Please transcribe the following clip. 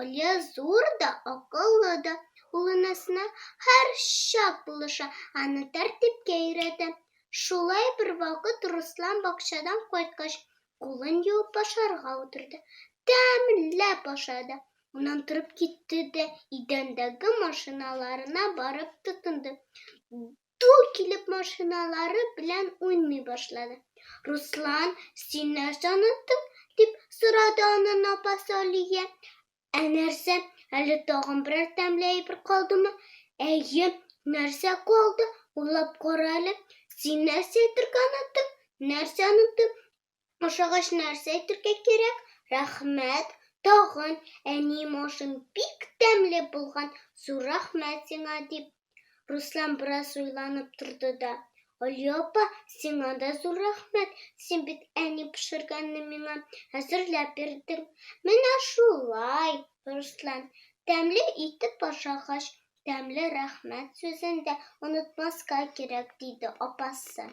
Алия зур да, акыллы да. Ул энесенә һәрчак булыша, аны тәртипкә өйрәтә. Шулай бервакыт Руслан бакчадан кайткач, кулын юып ашарга утырды. Тәмләп ашады. Аннан торып китте дә идәндәге машиналарына барып тотынды. тол килеп машиналары белән уйный башлады. Руслан, син нәрсә оныттың? дип сорады анын апасы Алия. Ә нәрсә, әле тагын берәр тәмле әйбер калдымы? Әйе, нәрсә калды? Уйлап кара әле. Син нәрсә әйтергә оныттың? Нәрсә оныттың? Ашагач нәрсә әйтергә кирәк? Рәхмәт, тагын әни машин бик тәмле булган, зур рәхмәт сиңа, дип. Руслан бераз уйланып торды да. Алия апа, сиңа да зур рәхмәт, син бит әни пешергәнне миңа әзерләп бирдең. Менә шулай, Руслан, тәмле итеп ашагач, тәмле рәхмәт сүзен дә онытмаска кирәк, диде апасы.